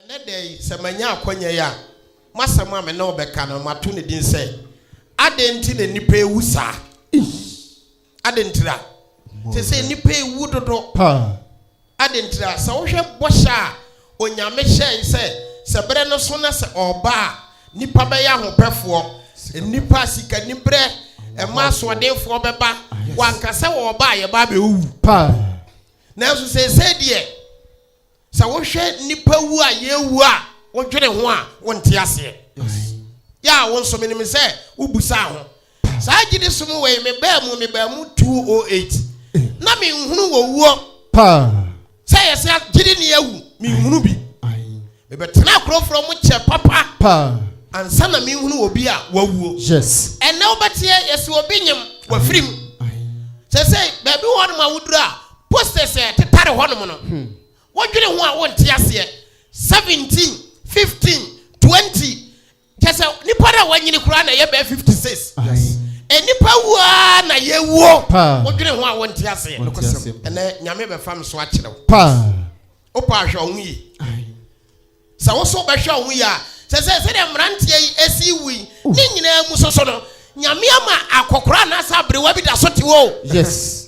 Ɛnnɛ da yi, sɛ manya akwannya yi a, m'asɛm a me ne wo bɛka no, mato no din sɛ, Adɛn Nti na Nnipa Rewu Saa? Adɛn ntira? Te sɛ nnipa rewu dodo paa. Adɛn ntira? Sɛ wohwɛ bɔhyɛ a Onyame hyɛe sɛ, sɛ berɛ no so na sɛ ɔreba a, nnipa bɛyɛ ahopɛfoɔ, nnipa a sikaniberɛ mma asoɔdenfoɔ bɛba, wanka sɛ wɔreba a yɛba abɛwuwu paa. Nanso seesei deɛ. Sɛ wohwɛ nnipa wu a yɛrewu a wodwene ho a, wonte aseɛ. Yɛ a wo nso menim sɛ wobu saa ho. Saa gyidi som wei mebaa mu mebaa mu 208 na menhunu wɔ wuo sɛ yɛ sɛ gyidi ni awu menhunu bi. Mebɛtena akorɔmforɔ mu kyɛ papa ansa na menhunu obi a wawuo. Ɛnnɛ wobɛteɛ yɛse obi nyem wafirim. Sɛsɛi baabi wɔ hɔ nom a woduru a Posters a ɛtetare hɔnom no, wodwene ho a wonte aseɛ, 17, 15, 20, kyerɛ sɛ nnipa no a wɔanyini koraa na ɛyɛ bɛyɛ 56. Nnipa wu ara na yɛwuo, wodwene ho a wonte aseɛ. Ɛnɛ Nyame bɛfa me so akyerɛ wo. Wopa ahwɛ wo ho yi. Sɛ wo so bɛhwɛ wo ho yi a, sɛ sɛ sɛdeɛ mmeranteɛ yi ɛsi wu yi, ne nyinaa mu soso no, Nyame ama akɔkora anaasɛ aberewa bi da so te hɔ. Yes.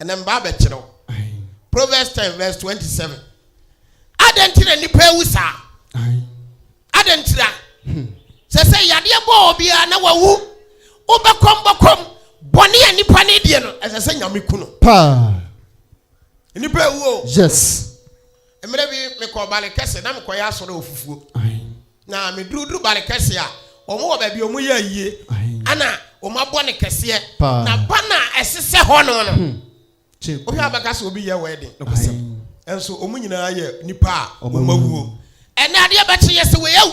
Ɛnna mmaa bɛkyerɛw. Proverbs ten verse twenty seven. Adɛn nti na nnipa awu saa? Adɛn nti na? Hmm. Sɛ sɛ yadeɛ bɔɔ obiara na wawu, wobɛkɔm bɔkɔm bɔne a nnipa no adie no, ɛsɛ sɛ nyame ku no. Paa. Nnipa awu o. Yes. Mmerɛ bi mekɔ ɔbale kɛse na mekɔyɛ asɔre ofufuo. Na me duru duru ba no kɛseɛ a, wɔn wɔ baabi a wɔn yɛ ayie, ɛna wɔn abɔ no kɛseɛ, na ba no a ɛsesɛ hɔ no no, wohwɛ a bɛka sɛ obi yɛ wedding, nso wɔn nyinaa yɛ nipa a wɔn awuo. Ɛnɛ adeɛ bɛkye yɛ sɛ wei awu,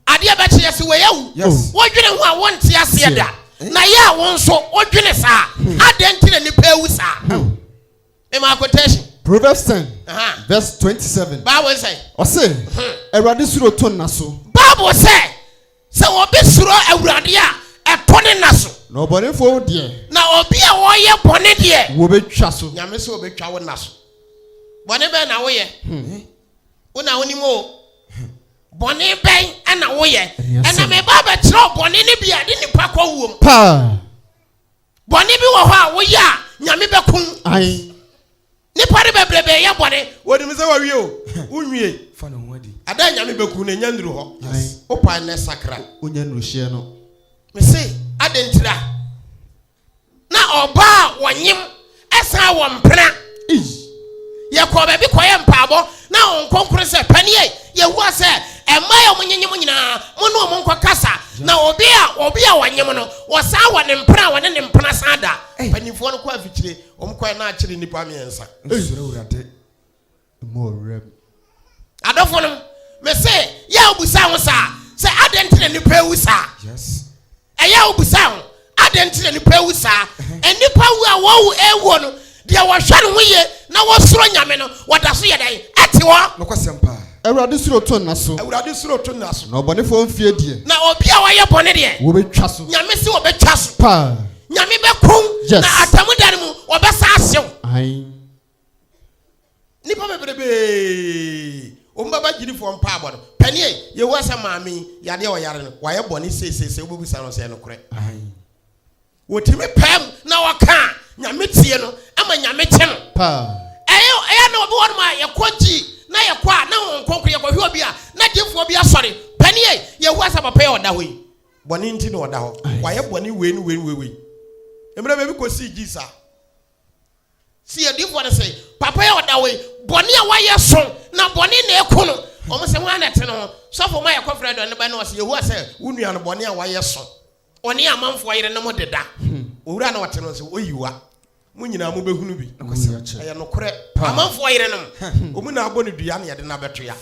adeɛ bɛkye yɛ sɛ wei awu, wodwene ho a wonte aseɛ da, na yɛ a wo nso wodwene saa, adɛn nti na nipa awu saa? Mema quotation. Proverbs ten Aha. verse twenty seven. Bible sɛ. Ɔse, Hmm. Awurade suro to nna so, Bible sɛ sɛ obi suro Awurade a ɛtɔ ne nna so. na ɔbɔnefoɔ deɛ Na obi a ɔyɛ bɔne deɛ. wɔbɛtwa so. Nyame sɛ obetwa wo nna so. Bɔne bɛn na woyɛ? Wo na wonim o. Bɔne bɛn ɛna woyɛ? Ɛyɛ Ɛna asɛm. meba abɛkyerɛ wo bɔne no bi a ɛde nipa kɔ wuom. Paa. Bɔne bi wɔ hɔ a woyɛ a Nyame bɛko wo. Ae. Nnipa no bebrebe yɛ bɔne. Wɔnim sɛ wɔawie o, wonwie. Fa ne ho adi. Ada a Nyame bɛku wo no, ɛnya nnuru hɔ. Ae. Wo pae nnɛ sakra. Wonya nnuru hyeɛ no. Mese, adɛn ntira. Na ɔbaa a wɔnyem. Ɛsan wɔ mpena. Yɛkɔɔ baabi kɔyɛ mpaabɔ na wɔn nkonkoro sɛ, Panie, Yehowa sɛ, mmaa a wɔnyenye mo nyinaa, mo ne wɔn nkɔ kasa, na obi a obi a wɔnye mo no, wɔsan wɔ ne mpena a wɔne ne mpena san da. Mpanimfoɔ no kɔ afikyire, wɔn kɔɛ na akyere nnipa mmiɛnsa. Nsuro Awurade. Mu wɔ wuram. Adɔfonom, mese, yɛ a wobisaa ho saa, sɛ adɛn nti na nnipa awu saa? Yes. Ɛyɛ a wobisaa ho, adɛn nti na nnipa awu saa? Uh-huh. Nnipa wu a wɔwu awuo no, deɛ wɔhwɛ no ho yie na wɔsoro Nyame no, wɔda so yɛ dɛn? Ɛte hɔ. Nokwasɛm paa. Awurade suro to nna so. Awurade suro to nna so. Na ɔbɔnefoɔ mfie deɛ. Na obi a wɔyɛ bɔne deɛ. Wɔbɛtwa so. Nyame se wɔbɛtwa so. Paa. Nyame bɛkum. Yes. Na atamu da no mu, wɔbɛsa asew. Ayi. Nnipa bebrebee, wɔn bɛba gyidifɔɔ mpaabɔ no pɛ neɛ Yehowa sa maame yi yadeɛ a ɔyare no, wayɛ bɔne seesei sɛ wobɛbisa no sɛ ɛyɛ nokorɛ ahe. Wɔtumi pae mu na wɔka a Nyame tie no ma Nyame kye no paa. Ɛyɛ a na obi wɔ nom a yɛkɔ gyi na yɛkɔ a na Honhom Kronkron yɛkɔ hwɛ obi a na gyefɔɔ bi asɔre pɛ neɛ Yehowa sa papa yi a ɔda hɔ yi bɔne nti na ɔda hɔ, wayɛ bɔne wei ne wei ne wei wei. Mmerɛ baabi kɔsii gyi saa. Si adiifoɔ no se, Papa yi a ɔda hɔ yi, bɔne a wayɛ so, na bɔne na ɛko no. Wɔn se, Hwan na ɛte ne ho? Sɔfo ma yɛkɔfrɛɛ dɔn no bae, na ɔse, Yehowa se, Wo nua no, bɔne a wayɛ so, ɔne amanfoɔ yerenom deda. Owura a na ɔte no nso, oyi wa. Mo nyinaa mobɛhunu bi. Ɛyɛ nokorɛ. Amanfoɔ yerenom, wɔn na abɔ no dua na yɛde no abɛto ya.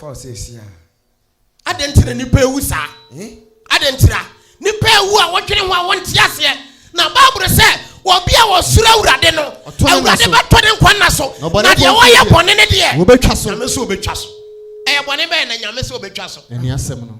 Adɛn nti na nnipa awu saa? Adɛn nti na nnipa awu a wɔdwene ho a wɔnte aseɛ? Na Bible sɛ, wɔbi a wɔsoro Awurade no, Awurade bɛtɔ ne nkwa nna so, na deɛ wɔyɛ bɔne no deɛ, wɔbɛtwa so. Nyame sɛ wɔbɛtwa so. Ɛyɛ bɔne bɛyɛ na Nyame sɛ wɔbɛtwa so. Ɛne asɛm no.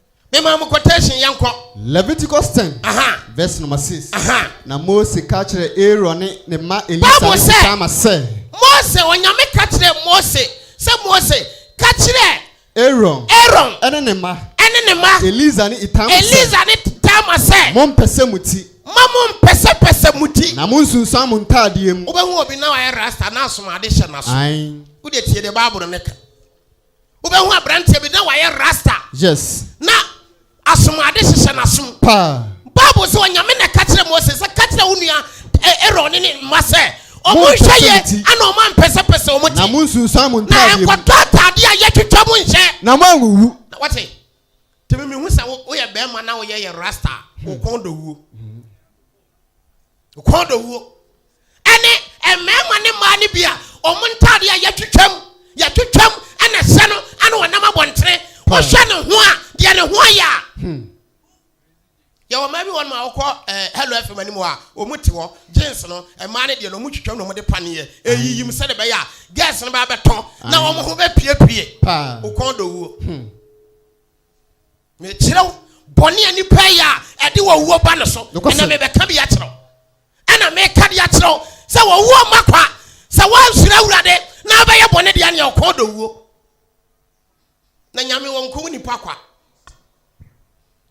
Mema mo quotation, yɛnkɔ. Leviticus ten, Aha. verse number six. Aha. Na Mose ka kyerɛɛ Aaron ne ne mma Elisa Bible ne sɛ- Itamar sɛ, Mose, Onyame ka kyerɛɛ Mose sɛ Mose, ka kyerɛ Aaron Aaron ne ne mma ɛne ne mma Elisa ne Itamar sɛ, Elisa ne Tama sɛ, mompɛ sɛ mo ti, ma mo mpɛsɛpɛsɛ mo ti. na monsunsuan mo ntaadeɛ mu. Wobɛhu obi na wayɛ rasta na asomade hyɛ n'aso. Ae. Wode tie deɛ Bible no ka. Wobɛhu aberanteɛ bi na wayɛ rasta. Yes. Na asom ade hyehyɛ n'asom. Paa. Bible sɛ ɔnyame na ɛka kyerɛ Mose sɛ ka kyerɛ wo nua Aaron ne ne mma sɛ ɔmo nhwɛ yɛ ɛna ɔmo ampɛsɛpɛsɛ ɔmo ti. Na mo nsunsuan mo ntaadeɛ mu. Na ɛnkɔtɔ ataadeɛ a yɛtwitwa mo nhyɛ. Na mo anwuwu. Na wɔte. Tumi mihu sɛ woyɛ bɛrima na woyɛ yɛ rasta. Wo kɔn dɔ wuo. Kɔn dɔwuo ɛne mmarima ne mmaa no bi a wɔn ntaadeɛ a yɛtwitwam yɛtwitwam ɛna ɛsɛ no ɛna wɔnam abɔntene wɔhwɛ ne ho a deɛ ne ho ayɛ a hmm. yɛwɔ mmaa bi wɔn ma wɔkɔ ɛɛ eh, hello fm anim a wɔn te hɔ jeans no mmaa no deɛ no wɔn twitwam na wɔn de paneɛ eyiyim sɛ de bɛyɛ a girls no bɛ abɛtɔ na wɔn ho bɛ piepie okɔn dɔwuo. Hmm. Mekyerɛ wo bɔne a nipa yɛ a ɛde wɔwuo ba no so, ɛna mebɛka bi akyerɛ wo. Ɛna meka bi akyerɛ wo sɛ wɔwuo mma kwa sɛ woansuro Awurade na wobɛyɛ bɔne deɛ neɛ ɔkɔɔ dɔ wuo. Na nyame wɔ nkɔwu nipa kwa.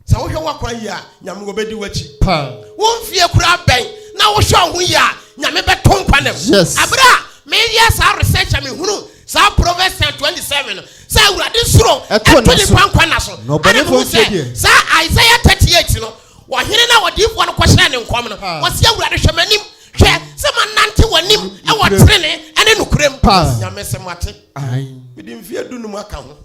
Sɛ wohwɛ woakwa yie a, nyame wɔbɛdi w'akyi. Wo mfie koraa bɛn na wohwɛ wo ho yie a, nyame bɛto nkwa nam. Yes. Abere a meyɛ saa research a mehunu saa proverbs ten twenty seven no sɛ awurade soro ɛto ne nkwa nkwa na so ɛna mo sɛ saa isaiah thirty eight no wɔhene na wɔdiifoɔ no kɔhyɛ ne nkɔm no ah. wɔsi awurade hwɛ m'anim hwɛ sɛ ma nante w'anim ɛwɔ tenene ɛne nokorɛ mu nyame sɛ mo ate mede mfeɛ du no mu aka ho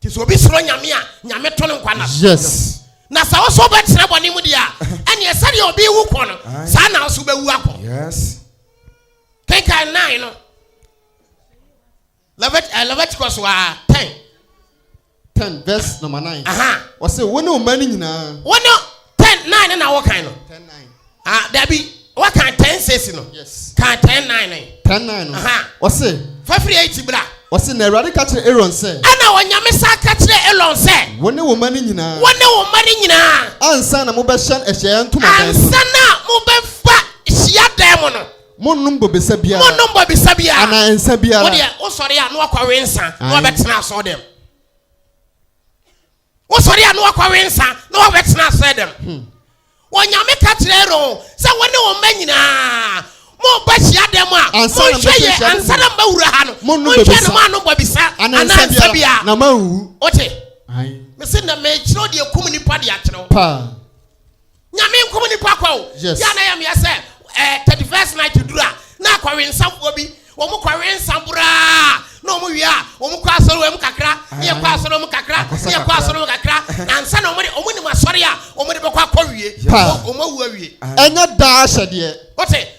nti sɛ obi suro nyame a nyame to no nkwa na yes na sɛ wo so wobɛtena bɔne mu deɛ a ɛneɛ sɛdeɛ obi wu kɔ no saa na wo so wobɛwu akɔ yes kenkan nine no eh, leviticus wa ten ten verse number nine ɔsɛ wo ne wo ma no nyinaa wo ne ten nine na wokan no ten nine Ah, dabi. Waka ten six no. Yes. Ka ten nine no. Ten nine no. Aha. Ɔse. Fafiri eight bra. Ɔse na Awurade ka kyerɛ Aaron sɛ. Ɛna onyame sa ka kyerɛ Aaron sɛ. Wo ne wo mma no nyinaa. Wo ne wo mma no nyinaa. Ansa na mobɛhyɛn ahyiaeɛ ntomadan mu. Ansa na mobɛfa hyia dan mu no. Monnom bobesa biara. Monnom bobesa biara. Ana nsa biara. Wodeɛ wosɔre a na wakɔwe nsa. Na wabɛtena asɔɔ dɛm. Wosɔre a na wakɔwe nsa na wabɛtena asɛe dɛm. Hmm. Onyame ka kyerɛ Aaron sɛ wɔne wɔn mma nyinaa mobɔ hyia dɛm a monhwɛ yɛ ansa na mawura ha no monhwɛ no moano bɔ bisa anaa nsa bia na mawu wote mese na mekyerɛ deɛ kum nipa de akyerɛ wo Nyame nkum nipa kwa o. Yes. Yɛ a na yɛ mea sɛ eh, 31st night duru a na akɔwe nsamfoɔ bi wɔn kɔwe nsa boraa na wɔn wie a wɔn kɔ asɔre wɔn mu kakra ne yɛ kɔ ah. asɔre wɔn mu kakra ne yɛ kɔ asɔre wɔn kakra na nsa na wɔn de wɔn nim asɔre a wɔn de bɛkɔ akɔ wie wɔn awu awie. ɛnyɛ daa ahyɛdeɛ. o te.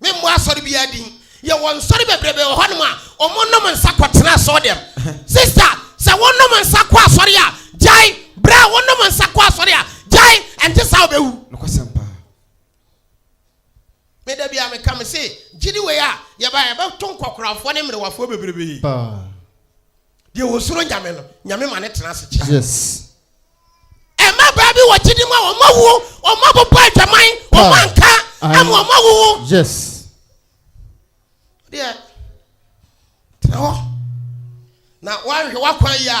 Me mmɔ asɔre biara din. Yɛwɔ nsɔre bebrebe wɔ hɔnom a wɔn nom nsa kɔ tena asɔre dɛm. Sister, sɛ wo nom nsa kɔ asɔre a, gyae. Bra, wo nom nsa kɔ asɔre a, gyae. Ɛnte saa a wobɛwu. Nokwasɛm paa. Me da biara meka, me se, gyidi wei a yɛbaeɛ, ɛbɛto nkɔkorafoɔ ne mmerewafoɔ bebrebe. Paa. Deɛ wɔsuro nyame no, nyame ma ne tena ase kyɛ. Yes. Ɛma baa bi wɔ gyidi mu a wɔn awuo, wɔn abobɔ adwaman, wɔn anka ama wɔn awuo. Yes. Deɛ tena hɔ na wɔahwɛ wɔakwan yi a.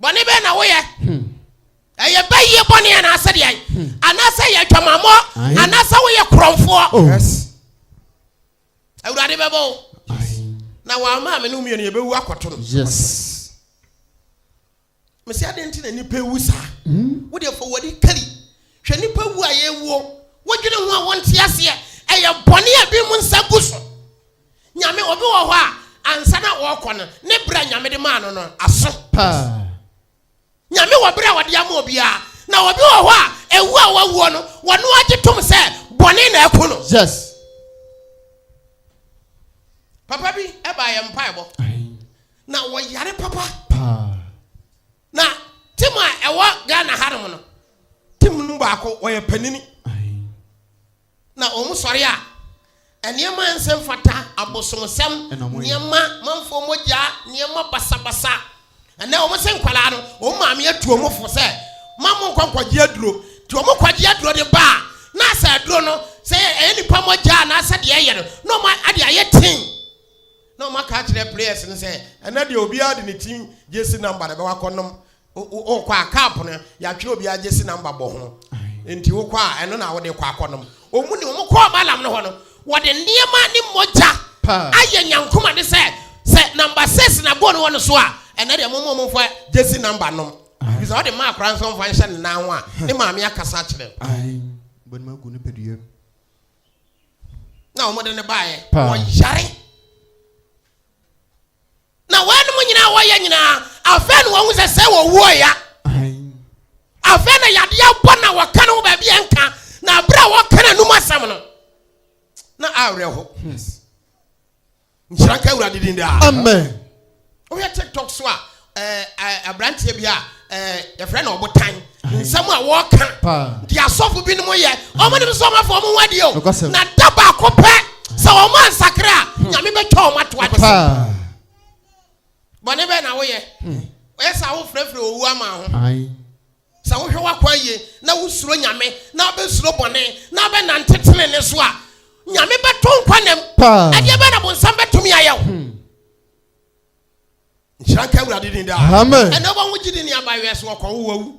Bɔne bɛn na woyɛ? Hmm. Ɛyɛ bɛyie bɔne anaasɛ deɛ hmm. anaasɛ yɛ adwamammɔ anaasɛ woyɛ korɔmfoɔ. Oh. Yes. Awurade bɛbɔ wo. Na wɔama me ne mmienu yɛbɛwu akɔto no. Yes. Mesi adeɛ nti na nipa ewu saa. Hmm. Wodeɛ fɔ wɔde kari. Hwɛ nipa wu a yɛwuo. Wodwene ho a wɔnte aseɛ. Ɛyɛ bɔne a bi mu nsa gu so. Nyame, obi wɔ hɔ a ansa na ɔrekɔ no, ne berɛ a Nyame de maa no no aso. Paa. Nyame wɔ berɛ a ɔde ama obiara, na obi wɔ hɔ a ɛwuo a wawuo no, wɔno ara gye tom sɛ bɔne na aku no. Yes. Papa bi ɛbaa yɛn mpaebɔ, na wɔyare papa. Paa. Na tim a ɛwɔ Ghana hanom no, tim no baako wɔyɛ panini. Na wɔsɔre a, nneɛma a ɛnsɛ mfata, abosomsɛm nneɛma, manfoɔ mogya, nneɛma basabasa. Ɛnnɛ wɔn sɛ nkwadaa no, wɔn maame atu wɔn fo sɛ, ma mo nkɔ nkɔgye aduro. Nti wɔn kɔgye aduro de ba a, na asɛ aduro no, sɛ ɛyɛ nipa mogya anaasɛ deɛ ɛyɛ no, na wɔn ade ayɛ ten. Na wɔn aka akyerɛ players no sɛ, ɛnnɛ deɛ obiara de ne team gyesi number na ɛbɛwɔ akɔnom wokɔ a cup no yɛatwerɛ obi agye si namba bɔ ho nti wokɔ a ɛno na wode kɔ akɔnom ɔmu ne ɔmo kɔɔ malam no hɔ no wɔde nneɛma ne mogya ayɛ nyankoma ne sɛ sɛ namba six na bɔ no wɔ no so a ɛnɛ deɛ momo ɔmo fa gye si namba nom bisa wɔde maa akora nso ɔmfa nhyɛ ne nan ho a ne maame akasa kyerɛ na wɔde ne baeɛ wɔyare Na wɔnom nyinaa a wɔyɛ nyinaa, afei na wɔhu sɛ sɛ wɔwuo ya. Afei na yadeɛ abɔ na wɔka no ho baabi a nka, na abere a wɔka no anum asɛm no, na awerɛ ho. Nhyira nka Awurade din daa. Amen. Wohwɛ TikTok so a, eh, eh, aberanteɛ bi a ɛɛ eh, yɛfrɛ no ɔbotan nsɛm a wɔka nti asɔfo binom yɛ ɔmo nim sɛ ɔmafo ɔmo wa deɛ o na da baako pɛ sɛ ɔmo ansakra a hmm. nyame bɛtwa ɔmo ato adesɛ bɔne bɛɛ na woyɛ hmm. ɔyɛ sɛ wofrɛfrɛ owu ama ho sɛ wohwɛ w'akwan yie na wosuro nyame na wobɛsuro bɔne na wobɛnante tene ne so a nyame bɛto nkwa nam ɛdeɛ bɛ na bonsam bɛtumi ayɛ wo hmm. nhyira nka awurade din daa amen ɛnɛ wɔn ho gye de nneɛma yɛ so wɔkɔwo wawu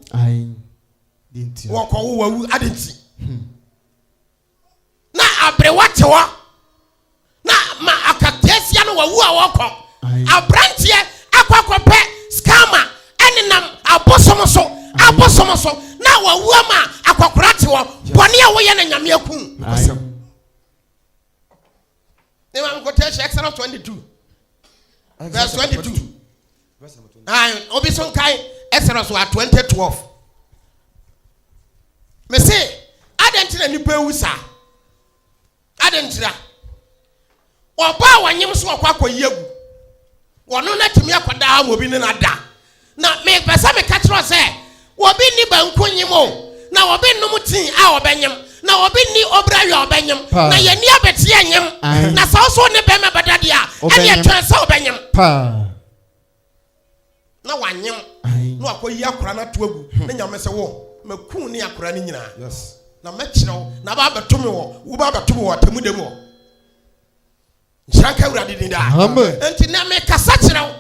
wɔkɔwo wawu ade nti hmm. na aberewa te hɔ na ma akateasia no wawu a wɔkɔ aberanteɛ akɔ akɔpɛ skama ɛnenam abosom so abosom so na wawu ama akɔkora te hɔ bɔne a woyɛ na nyame aku ne maame kɔtɔ ahyɛ exodus twenty two verse twenty two ayi obi so nkae exodus wa twenty twelve mese adan ti na nipa ewu saa adan ti na ɔbaa wɔnyem so ɔkɔ akɔ yi egu. Wɔno no atumi akɔ daa ma obi ne no ada. Na mepɛ sɛ meka kyerɛ wo sɛ, obi nni banku nyem o, na obi nnom tii a ɔbɛnyem, na obi nni obirahwe a ɔbɛnyem, na yɛnni abɛteɛ nyem. Na sɛ wo so wo ne barima bɛda deɛ a, ɛnneɛ twɛn sɛ wobɛnyem. Na wanyem, na wakɔyi akwadaa no ato agu, na Nyame se, Wo, mɛku ne akwadaa no nyinaa, na mɛkyerɛ wo, na aba abɛto me wɔ, wobɛba abɛto me wɔ atemmuda mu hɔ. nhyira nka awurade din daa nti na mekasa kyerɛ wo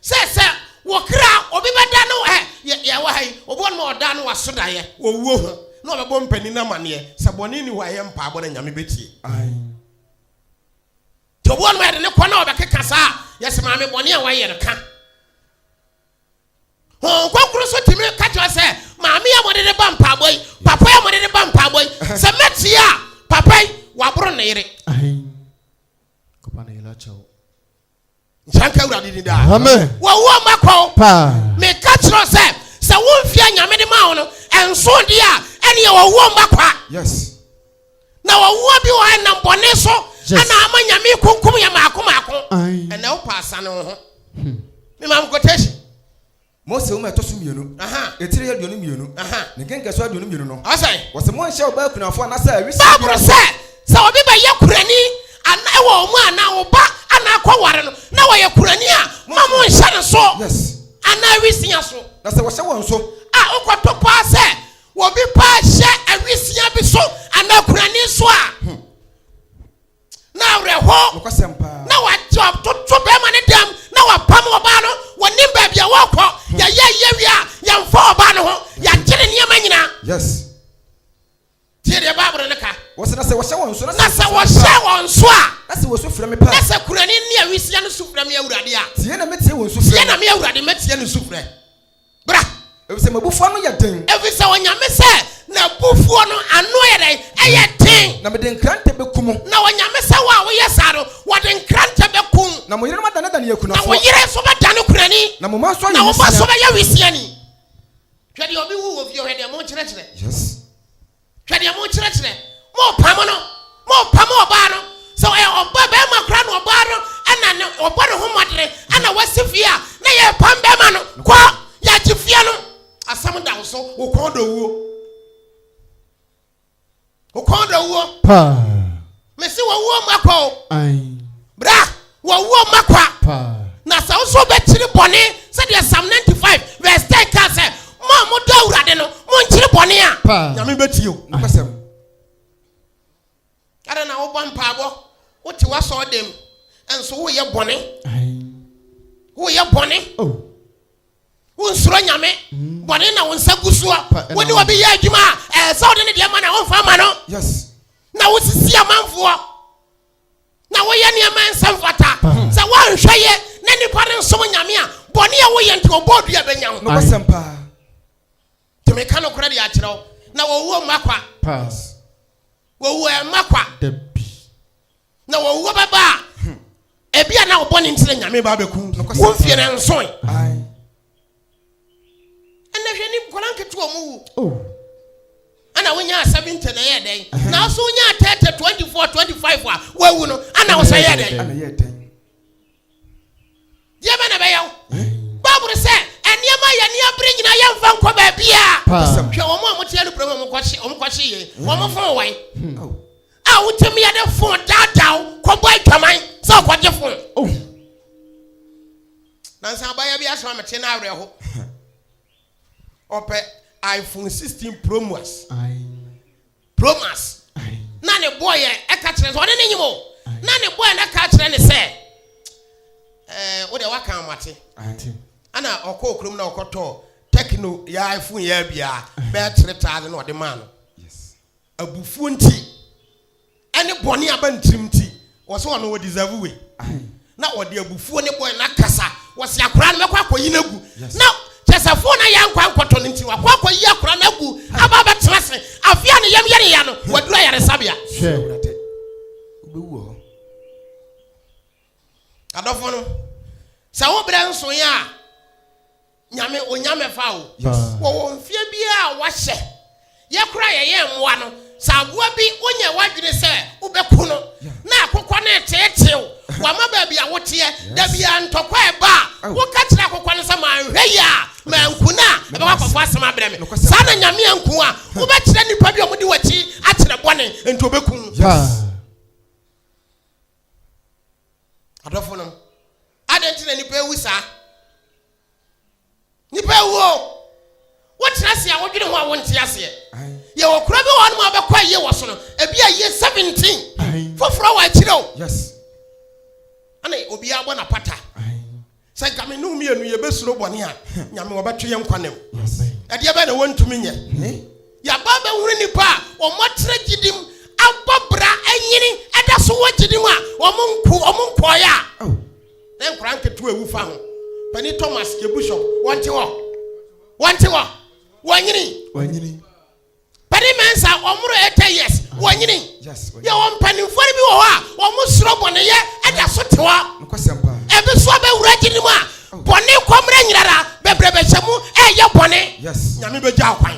sɛ sɛ wɔkra obi bɛda no ɛ yɛwɔ ha yi obi wɔn ma ɔda no waso daeɛ wɔwuo ho na ɔbɛbɔ mpanin no amaneɛ sɛ bɔne ni hɔ a ɛyɛ mpaabɔ na nyame bɛtie nti obi wɔn ma yɛde ne kɔ na ɔbɛkeka saa yɛsɛ maame bɔne a wayɛ no ka Honhom Kronkron nso tumi ka kyerɛ sɛ, Maame a mode reba mpaabɔ yi, papa a mode reba mpaabɔ yi, sɛ mɛtie a, papa yi, waboro ne yere. Nsanka Awurade ni daa. Wɔwo ɔma kɔn. Meka kyerɛ sɛ, sɛ womfie a Nyame de ma wo no, ɛnso deɛ a, ɛneɛ wɔwo ɔma kwa. Yes. Na wɔwoa bi wɔ hɔ ɛnam bɔne so ɛna ama nyame kunkum yɛ maako maako ɛnɛ wo pa asane wo ho hmm. me mam quotation mose woma ɛtɔ so mmienu ɛtiri yɛ aduonu mmienu ne nkenka so aduonu mmienu no ɔsɛ wɔsɛ monhyɛ ɔbaa kunafo anasɛ awisi baaboro sɛ sɛ obi bɛyɛ kurani ana ɛwɔ ɔmo anaa ɔba anaa kɔware no na wɔyɛ kurani a ma monhyɛ no so anaa awisia so na sɛ wɔhyɛ wɔn so a wokɔto paa sɛ Obi paa hyɛ awisia bi so anaa kurani so a, hmm. na awerɛho na wagye ɔtoto bɛrima ne dɛm na wapam ɔbaa no wɔnim baabi a wɔkɔ hmm. yɛyɛ yɛ wie a yɛmfa ɔbaa no ho yɛagye ne nneɛma nyinaa yes tie deɛ baabolo no ka wɔsɛ na sɛ wɔhyɛ wɔn so na sɛ wɔhyɛ wɔn so a na sɛ wɔsu frɛ me paa na sɛ kurani ne awisia no su frɛ me awurade a tie na metie wɔn su frɛ tie na me awurade mɛtie no su frɛ Bra, efisɛ m'abufuo ano yɛ den. Efisɛ Onyame sɛ n'abufuo no ano yɛ dɛn? Ɛyɛ den. Na mede nkrantɛ bɛku mo. Na Onyame sɛ wɔn a wɔyɛ saa no, wɔde nkrantɛ bɛku. Na mo yerenom adanedane akunafoɔ. Na wo yere nso bɛdane okunani. Na mo mma nso ayɛ nwisiaa. Na wo mma nso bɛyɛ nwisiaa ni. Hwɛ deɛ obi wu wɔ fie, hwɛ deɛ monkyerɛkyerɛ. Yes. Hwɛ deɛ mokyerɛkyerɛ. Mopam no. Mopam ɔbaa no. Sɛ ɔyɛ ɔba bɛrima koraa na ɔbaa no ɛna ne ɔbɔ ne ho mmɔdene ɛna wasi fie a na yɛpam bɛrima no kɔ yɛagye fie no. Asɛm da wo so. Wo kɔn dɔ wuo. Wo kɔn dɔ wuo. Paa. mese wɔwuo mu akwa o bra wɔwuo mu akwa na sɛ nso bɛkyiri bɔne sɛdeɛ psalm 95 verse 10 ka sɛ mo a modɔ awurade no monkyiri bɔne a nyame bɛtie o nopɛsɛm ɛdɛ na wobɔ mpaabɔ wote wasɔɔ dem ɛnso woyɛ bɔne woyɛ bɔne oh. Wonsuro Nyame, bɔne na wo nsa gu soɔ. Wo ne obi yɛ adwuma a, ɛɛ sɛ wode ne deɛ ma na womfa ma no. Na wosisi amanfoɔ, na woyɛ nneɛma nsa mfata. Sɛ woanhwɛ yɛ na nipa no nsom Nyame a, bɔne a woyɛ nti ɔbɔɔ dua bɛnya wo. Nti meka nokorɛ de akyerɛ wo, na owuo mma kwa. Pass. Owuo ɛmma kwa. Dabi. Na owuo bɛba a, ebia na wo bɔne nti na Nyame ba abɛku wo mfie no nsoe. Aye. Ɛnna hwɛ ni nkwadaa nketewa ɔmo wu. Oh. Ɛnna wonyaa seventy na ɛyɛ dɛn? Na ɔso wonyaa thirty, twenty four, twenty five a wawu no, ɛnna ɔsɛ yɛ dɛn? Ɛnna yɛ dɛn? deɛ bɛ na ɛbɛyɛ wo bible sɛ nneɛma yɛ nneɛ bere nyinaa yɛmfa nkɔ baabiaa hwɛ wɔn a moteɛ no kurom ɔmokɔhye yɛ ɔmofoo wɔn hmm. a wotumi yɛde fo daadaw kɔbɔ adwaman sɛ ɔkɔgye fo oh. nansa abayɛ bi asɛm amete no awerɛho ɔpɛ iphone 16 promas Promas. Na ne boɔ yɛ ɛka kyerɛ sɛ ɔne ne nyim o. Na ne boɔ yɛ na ka kyerɛ ne sɛ ɛɛ wo deɛ waka amate. Ana ɔkɔɔ kurom na ɔkɔtɔɔ tɛkino yɛ iPhone yɛ abia bɛɛ tiri taade na ɔde maa no. Abufuo nti ɛne bɔne aba ne tirim nti Wɔse ɔno wɔ deserve wei na wɔde abufuo ne bɔɛ na kasa wɔse akora no mɛkɔ akɔyi no agu na kyɛsɛ fo na yɛ nkwa nkɔtɔ no nti wakɔ akɔyi akora no agu aba bɛtena se afia ne yam yɛreya no waduru ayaresabea adɔfo no sɛ wo berɛ nsoe a Nyame onya mɛfa o. Wɔwɔ mfeɛ biaa a wɔahyɛ. Yɛ koraa yɛyɛ mmoa no. Sɛ aboa bi wonyɛ w'adwene sɛ wobɛku no na akokɔ no reteetee wo wama baabi a woteɛ da biaa ntɔkwa ɛba a woka kyerɛ akokɔ no sɛ manhwɛ yie a manku no a ɛbɛkɔ akɔfa asɛm abrɛ me saa na Nyame anku wo a wobɛkyerɛ nnipa bi a wɔde w'akyi akyerɛ bɔne nti ɔbɛku wo. Adɔfonom, adɛn nti na nnipa awu saa? Nnipa awu o. Wotena ase a wodwene ho a wonte aseɛ. Yɛwɔ kura bi wɔ hɔ nom a bɛkɔ ayie wɔ so no, ebi ayie seventeen, foforɔ wɔ akyire o. Ɛna obiara bɔ n'apata. Sɛ nka me ne mmienu yɛbɛsuro bɔne a, nyame wɔbɛto yɛn nkwa nam. Ɛdeɛ bɛyɛ na wɔntumi nyɛ. Yɛaba bɛhunu nnipa a wɔatra gyidim abɔ bra anyini ɛda so wɔ gyidim a wɔn nko wɔn nkɔɔeɛ a. na nkwadaa nketewa ewu fa ho panyin thomas yebusho wɔn te hɔ wɔn te hɔ wɔn nyini wɔn nyini panyin mɛnsa wɔn moro eighty years wɔn nyini yɛ wɔn mpanimfoɔ bi wɔ hɔ a wɔn soro bɔneyɛ ɛda so te hɔ ebi so abɛwura gyi ne mu a oh. bɔne kɔmmerɛ nyinara bebree bɛhyɛ mu ɛyɛ bɔne nyame bɛgya kwan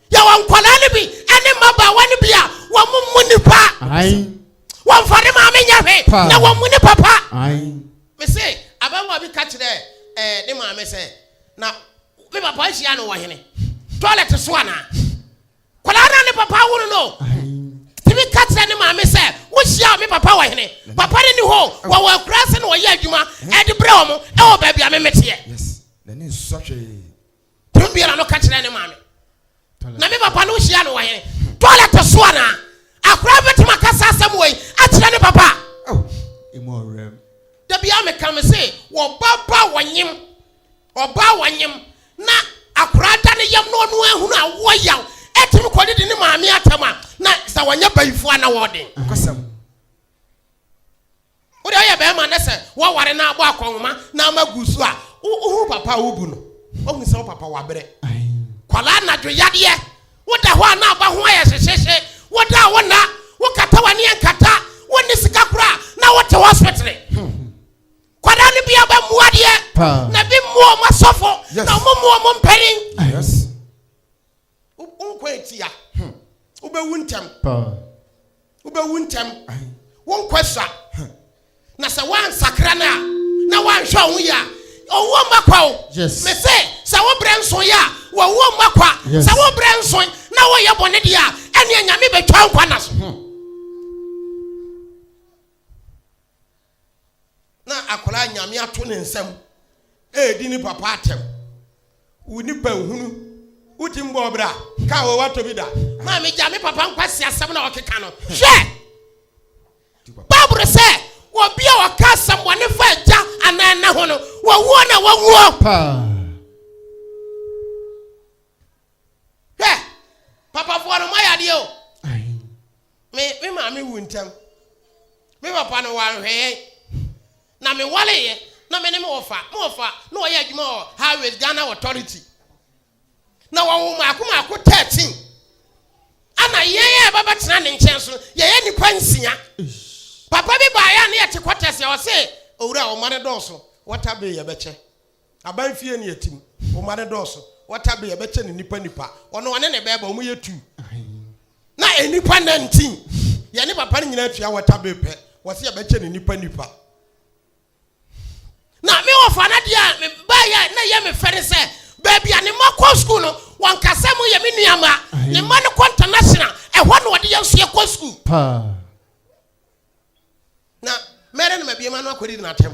Yɛwɔ nkwadaa no bi ne mmabaawa no bi a wɔn mu nipa. Wɔn fa ne maame nyɛ hwe na wɔn mu ne papa. Mese abɛwa bi ka kyerɛ ɛɛ eh, ne maame sɛ na me papa ahyia no wɔ hene toilet so anaa. Kwadaa no ne papa woro no. Tìmí ka kyerɛ ne maame sɛ wohyia me papa wɔ hene papa no ni hɔ wɔwɔ akura se na wɔyɛ adwuma ɛde brɛ wɔn ɛwɔ baabi a memeteɛ. Yes, n'ani nsɔ hwee. Tun biara no ka kyerɛ ne maame. Na me papa no hyia no wɔ hene. Toilet so anaa? Akora bɛtumi aka saa asɛm wɔ yi akyerɛ ne papa. Oh, emu ɔwerɛm. Da biara meka me se wɔba ba wɔnyem. Ɔba wɔnyem na akora da ne yam na ɔno ahunu a wɔ yaw. Ɛtumi kɔ didi ne maame atam a na sɛ wɔnyɛ bayifoɔ a na wɔden. Ɔkɔsɛm. Wode ɔyɛ bɛɛma na sɛ wa ware na abɔ akɔnhoma na ama gu so a wo ho papa a wo bu no wa hu sɛ wo papa wa brɛ kwalaa anadwo yadeɛ wo da hɔ a na aba ho ayɛ hyehyehye wo da a wo na wo kata wani ankata wo ni sika kura na wo te hospital kwalaa no bi aba mu adeɛ na bi mu ɔmo asɔfo na ɔmo mu ɔmo mpanin. Wo nkwa atia. Wobɛwu ntɛm. Wobɛwu ntɛm. Wo nkwa sua. Na sɛ woansakra no a na woanhwɛ wo ho yie a, ɔwuo mma kwa o. Me se sɛ wo berɛ nso yɛ a, wɔwuo mma kwa. Sɛ wo berɛ nso na woyɛ bɔne deɛ a, ɛneɛ Nyame bɛtwa nkwa na so. Hmm. na akwadaa a nyame ato ne nsam ɛredi ne papa atɛm wo nipa nhunu woti mbɔ ɔbra ka wɔ watɔ bi da maa megya me papa nkwasi asɛm na ɔkeka no hwɛ bible sɛ wɔbi a wɔka asɛm wɔne fa agya anaa ɛna ho no wɔwuo na wɔwuo paa papafoɔ no moayɛ adeɛ o Me me maame wu ntɛm. Me papa no wanhwɛ yɛn. Na me wareeɛ na me ne me wɔfa me wɔfa na ɔyɛ adwuma wɔ highways Ghana authority. Na wɔwo mako mako thirteen. Ana yɛn a ɛba bɛtena ne nkyɛn so no yɛyɛ nipa nsia. Papa bi baayɛ a ne yɛte kɔtɛs yɛ ɔse owura ɔma ne dɔɔso wɔta bee yɛbɛkyɛ. Aban fie ne atim, wo mma no dɔɔso, wɔta bɛ yɛbɛkyɛ ne nipa nipa, ɔno ɔne ne bɛɛba wɔn yɛ tuu. Na nipa nantin, yɛ ne papa no nyinaa tua wɔta bɛ pɛ, wɔsi yɛbɛkyɛ ne nipa nipa. Na me wɔfa no adeɛ a me ba yɛ na yɛ me fɛ ne sɛ baabi a ne mma kɔ sukuu no wɔn kasa mu yɛ me nua mma, ne mma no kɔ international, ɛhɔ na wɔde yɛn nso yɛkɔ sukuu. Paa. na mɛrɛ na mabie m'ano akɔdidi n'atɛm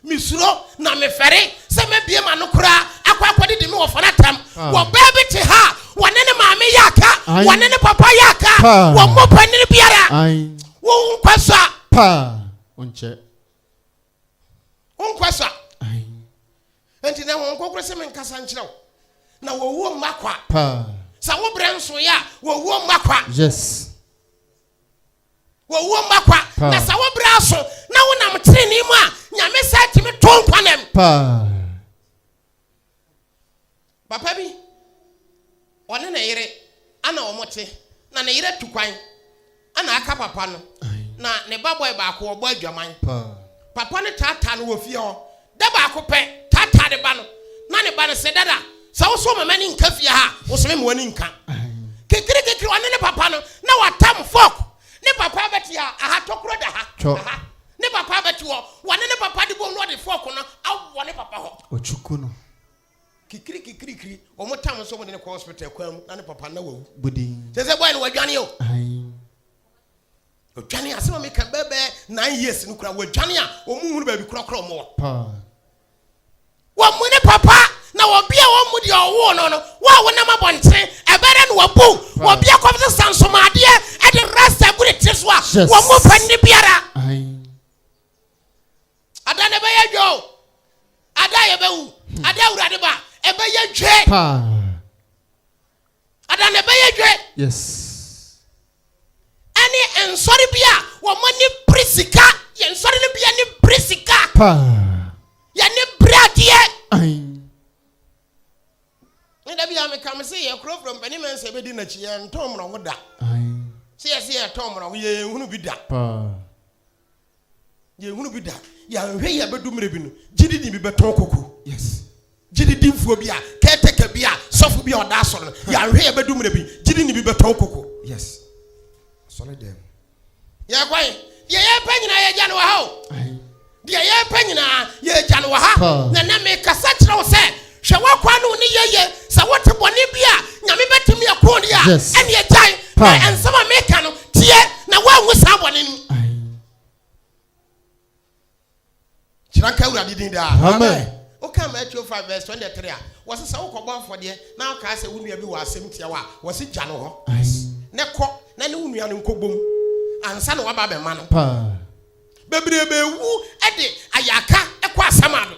mesuro na mefɛre sɛ mabie m'ano koraa akɔ akɔdidi me wɔfa n'atɛm ah. wɔ bɛɛ bi te ha wɔne ne maame yɛ aka wɔne ne papa yɛ aka wɔn mmɔ panini biara wɔn nkɔ so a paa ɔnkyɛ wonkɔ so a enti na wɔn nkɔkorɔ sɛ menkasa nkyerɛ wo na wɔwuo mma kwa sɛ wobrɛ nsoeɛ a wɔwuo mma kwa yes Wɔwuo mma kwa, pa. na sɛ wo berɛ aso na wonam tenenee mu a, Nyame saa tumi to nkwa nam. Pa. Papa bi, ɔne ne yere ana wɔn te, na ne yere tu kwan ana aka papa no, na ne ba bɔe baako ɔbɔ adwaman. Pa. Papa no taataa no wɔ fie hɔ, Da baako pɛ, taataa ne ba no, na ne ba no se, Dada, sɛ wo so mama ni nka fie ha a, wo se me mmoa ni nka. Kekirikekiri, ɔne ne papa no, na wɔatam fɔk. Ne papa abɛte ha, aha tɔkuro da ha, aha. Ne papa abɛte hɔ, wɔne ne papa de bom na wɔde fɔk no awɔ ne papa hɔ. Ɔkyuku no. Kekirikekirikiri, wɔn tam nso wɔde no kɔ hospital kwan mu, na ne papa no na wawu. Budin. Sɛ sɛ bɔɛ no wadwane o. Ayi. Ɔdwane a, asɛm a meka bɛyɛ bɛyɛ nine years no koraa, wɔadwane a wɔn nhunu baabi korakora wɔn wɔ. Paa. Wɔn mu ne papa, na obi a wɔn mu deɛ ɔwoo no no, wo a wonam abɔnten, ɛbɛyɛ no wabu Paa. obi a kɔm sesa nsomadeɛ ɛde rasta agu ne tiri so a, Yes. wɔn mu pɛ nne biara. Ae. Ada na ɛbɛyɛ dwa o, ada a yɛbɛwu, ada a Awurade ba, ɛbɛyɛ dwe. Paa. Ada na ɛbɛyɛ dwe. Yes. Ɛne nsɔre bi a wɔn ani bere sika. Yɛn nsɔre no bi ani bere sika. Paa. Yɛne bere adeɛ. Ayi. Ne da bi a meka me se yɛ koroforo mpanin mɛ nsɛ bɛdi n'akyi yɛn ntɔn mmorɔho da. Ayi. Se yɛ se yɛ tɔn mmorɔho yɛ yɛn hunu bi da. Paa. Yɛnhunu bi da. Yɛanhwɛ yie abɛdu mmerɛ bi no, gyidini bi bɛtɔn koko. Yes. Gyididimfoɔ bi a, caretaker bi a, sɔfo bi a ɔda asɔre no, yɛanhwɛ yɛ abɛdu mmerɛ bi, gyidini bi bɛtɔn koko. Yes. Asɔre dɛm. Yɛkwan. Deɛ yɛpɛ nyinaa yɛgya no wɔ ha o. Deɛ yɛpɛ nyinaa yɛgya no wɔ ha. Na na mekasa kyerɛ wo sɛ Hwɛ w'akwan no ne yɛyɛ. Sɛ wote bɔne bi a Nyame bɛtumi ako de a, ɛneɛ gyae. Na nsɛm a meka no, teɛ na woanwu saa bɔne no mu. Hyira nka Awurade din daa. Amen. Woka Matthew 5 vs 23 a, wɔse sɛ wokɔbɔ afɔdeɛ na wokaa sɛ wo nua bi wɔ asɛm tia wo a, wɔse gya no hɔ na kɔ na ne wo nua no nkɔbom ansa na waba abɛma no. Bebrebe wu de ayaka kɔ asɛm ado.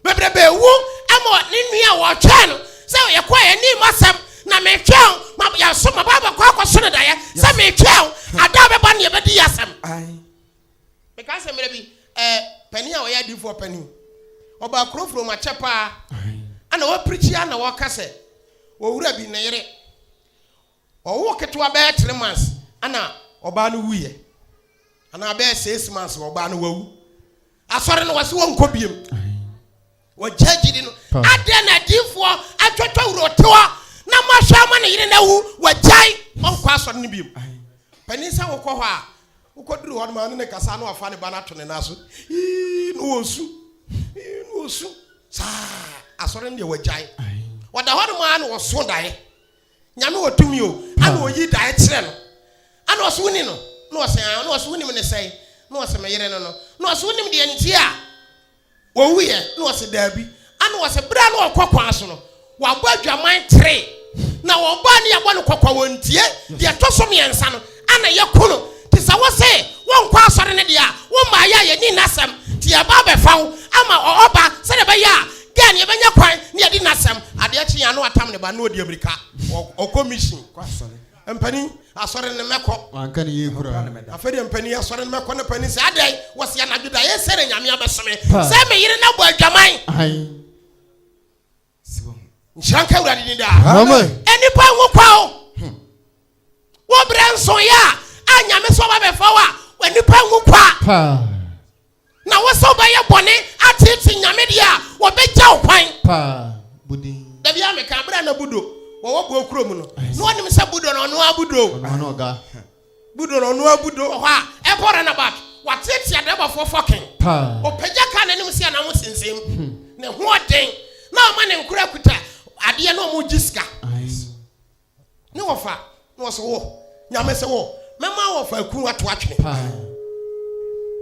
bebrebe wu ama ne nua a wɔtwɛn no sɛ yɛkɔ yɛn anim asɛm na metwɛn ma yɛso ma baabɔ kɔ akɔso no daeɛ sɛ metwɛn ada bɛba ne yɛbɛdi yɛ asɛm meka sɛ mmerɛ bi panin a ɔyɛ adifoɔ panin ɔbaa kurofuro mu akyɛ paa ana wɔpirikyia na wɔka sɛ ɔwura bi ne yere Ɔwoo ketewa bɛyɛ three months ɛna ɔbaa no wuiɛ anaa bɛyɛ six months ɔbaa no wawu asɔre no wɔsi wɔn nkɔ biem wɔgya gyidi no adeɛ na adiifoɔ atwatwa wuro tewa na mo ahwɛ ama ne yere na wu wɔgyae ɔnkɔ asɔre no biem panin sɛ wokɔ hɔ a wokɔ duru hɔ no ma ne ne kasa na wafa ne ba no ato ne nan so ii na wɔsu ii na wɔsu saa asɔre no deɛ wɔgyae wɔda hɔ no ma na wɔso daeɛ Nyame wɔ tumi o, ana ɔyi daeɛ kyerɛ no? Ana ɔse woni no? Na ɔse aa, na ɔse wonim ne sɛn? Na ɔse me yere no no, na ɔse wonim deɛ nti a ɔwuiɛ? Na ɔse daabi, ana ɔse berɛ a na ɔkɔ kwan so no wabɔ adwaman three, na wɔn baa no yɛbɔ no kɔkɔ wɔntie, deɛ ɛtɔ so mmiɛnsa no a na yɛku no nti sɛ wo se wonkɔ asɔre no deɛ a wo mmaeɛ a yɛnni nna asɛm nti yɛreba abɛfa wo ama ɔba sɛdeɛ ɛbɛyɛ a girl no yɛbɛnya kwan ne yɛadi nna asɛm adeɛ kye a na watam ne ba na ɔdi amirika ɔkɔ mission kɔ asɔre mpanin asɔre no mɛkɔ wanka ne yie kura afei deɛ mpanin asɔre no mɛkɔ na panin sɛ adɛn wɔsi anadwo da yɛ sɛ na nyame abɛsome sɛ me yere no abɔ adwaman nhyira nka awurade ni daa nnipa nwo kwa o hmm. wo berɛ nsoeɛ a a nyame sɛ ɔba bɛfa wo a nnipa nwo kwa na wo sɛ wobɛyɛ bɔne atete nyame deɛ a wɔbɛgya wo kwan dabi a meka berɛ na budo wɔwɔ boɔ kuro mu no na ɔnim sɛ budo no ɔno abudo Budo no ɔnoaa Budo wɔ hɔ a ɛkɔ Runabout wateatea drɛbafoɔ fɔken paa. Ɔpagya kaa n'anim se anaa mo sensem ne ho ɔden na ɔma ne nkoraa kuta adeɛ na ɔmo gye sika. Ne wɔfa na ɔse wo Nyame se wo mɛma wɔfa akunu ato atwene paa.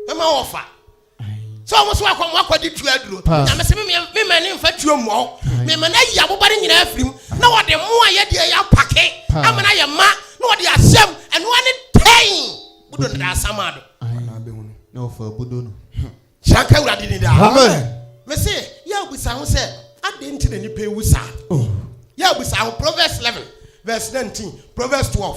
Mɛma wɔfa sɛ wɔn so akɔ wɔn akɔde tuo aduro nyame sɛ me ma ne nfa tuo mmɔ me ma no ayi abobare nyinaa afiri mu na wɔde mmoa yɛ deɛ yɛ apake ama no ayɛ ma na wɔde asɛm ɛnoa ne tɛn budo no daa sama do na wɔfa budo no sɛnka awurade ni daa me se yɛ abusa ho sɛ adɛn nti na nipa ewu saa oh. yɛ abusa ho proverbs 11 verse 19 proverbs 12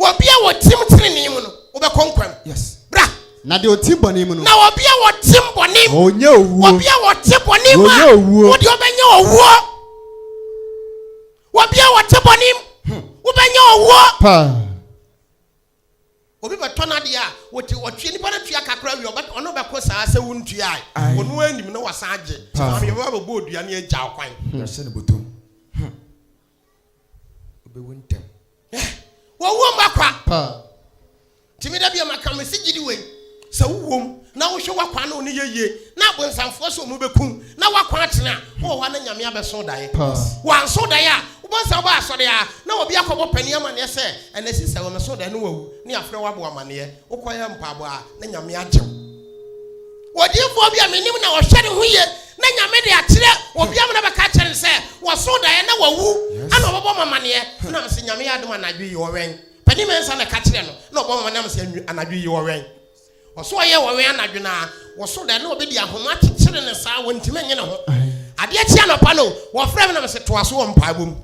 Obi a wɔtim trenee mu no, wobɛkɔ nkwa mu. Yes. Bra. Na deɛ ɔtim bɔne mu no. Na obi a wɔtim bɔne mu. Ɔnyɛ owuo. Obi a wɔte bɔne mu a. Ɔnyɛ owuo. Wodeɛ ɔbɛnyɛ owuo. Obi a wɔte bɔne mu. Hmm. Wobɛnyɛ owuo. Paa. Obi bɛtɔ no adeɛ a wɔte ɔtwe nipa no tua kakra wie ɔbɛ ɔno bɛko saa sɛ wontua a. Ɔno anim na wasan agye. Paa. Maame yɛbɛba bɛbɔ odua ne agya ɔkwan. Yɛhyɛ ne bɔtɔ. Hmm. obewu ntɛm wɔwom akwa paa nti meda bia maka me se gyidi wei sɛ wowom na wohwɛ wakwa no ne yɛyie na abonsamfoɔ sɛ ɔmu bɛkum na wakwa atene a wowɔ hɔ na nyame abɛso daeɛ wanso daeɛ a wobɛnsa wobɛ asɔre a na obi akɔbɔ pani amaneɛ sɛ ɛnɛ si sɛ wɔmɛso daeɛ no wawu ne afrɛ wabɔ amaneɛ wokɔyɛ mpaabɔ a na nyame agyew odiyifoɔ bi a menim na ɔhwɛ ne ho yie na nyame de akyerɛ obi ama na bɛka akyerɛ no sɛ wɔso daeɛ na wawu ana ɔbɛbɔ ma maneɛ na mesɛ nyame yɛ adom anadwo yi ɔwɛn pani mɛnsa na ɛka kyerɛ no na ɔbɔ ma na mesɛ anadwo yi ɔwɛn ɔso ɔyɛ ɔwɛn anadwo na wɔso daeɛ na ɔbɛdi ahoma kyekyere ne saa wɔntimi nye ne ho adeɛ kyi anɔpa no wɔfrɛ me na mesɛ toa so wɔ mpaebɔ mu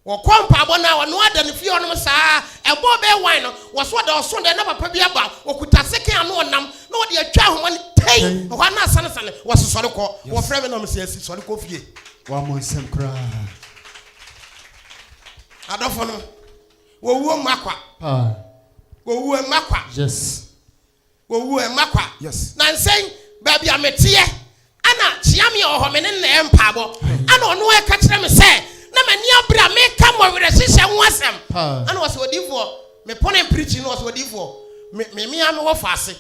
Wɔkɔ mpaabɔ na wɔnoa da no fie hɔnom saa ara. Ɛbɔ ɔbɛyɛ wan no, wɔsoa da ɔso dɛ na papa bi aba, ɔkuta sekan ano ɔnam na ɔde atwa ahoma no tei, ɛhɔ ara na asanesane, wɔse sɔre kɔ. Wɔfrɛ me na wɔse asi sɔre kɔ fie. Wammɔ nsɛm koraa. Adɔfonom, wɔwuo mma kwa. Paa. Wɔwuo mma kwa. Yes. Wɔwu a, mma kwa. Nansɛn, baabi a meteɛ, ɛna Kyeame a ɔwɔ hɔ, me ne no na ɛyɛ mpaabɔ. Ɛna ɔno ara ka kyerɛ me sɛ, na m'ani abere a meka mo awerɛhyehyɛ ho asɛm. Ɛna ɔse, Odiyifoɔ, mepɔ ne mprikyi no, ɔse, Odiyifoɔ, me, me, me ara mewɔ faase.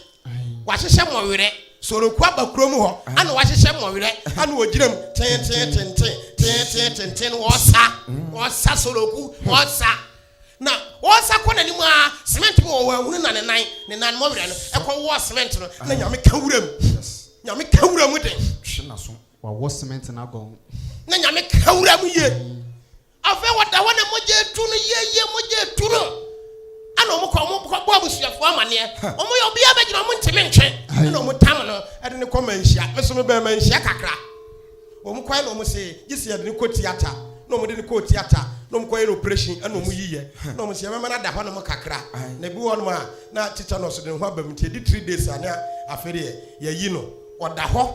Wɔahyehyɛ mo werɛ. Soroku aba kurom hɔ, ɛna wɔahyehyɛ mo werɛ, ɛna wɔgyina mu, tee, tee, tenten, tee, tee, tenten, wɔresa, wɔresa, Soroku, wɔresa. Na ɔresa kɔ n'anim ara, cement bi wɔ hɔ, wanhunu na ne nan, ne nan mmɔ werɛ no, ɛkɔ wɔɔ cement no, na Nyame ka wura mu. Yes. Nyame ka wura mu den. Hwe n'aso. Wawɔ cement no agɔn. Na Nyame ka wura mu yie. Afei wɔda hɔ na mogya etu no yieyie, mogya etu no. Ɛna wɔn kɔ, wɔn kɔ bɔ abusuafoɔ amaneɛ. Wɔn yɛ obiara bɛgyina wɔn ntumi ntwe. Ɛna wɔn tam no, ɛde ne kɔ manhyia. Meso me bɛn manhyia kakra. Wɔn kɔɛ na wɔn se gye sɛ yɛde no kɔ tiata na wɔn de no kɔɔ tiata na wɔn kɔyɛ no operation ɛna wɔn yiyɛ na wɔn se yɛbɛma no ada hɔ nom kakra na ebi wɔ nom a na tetanus de ne ho aba mu nti edi three days a na afei deɛ yɛyi no ɔda hɔ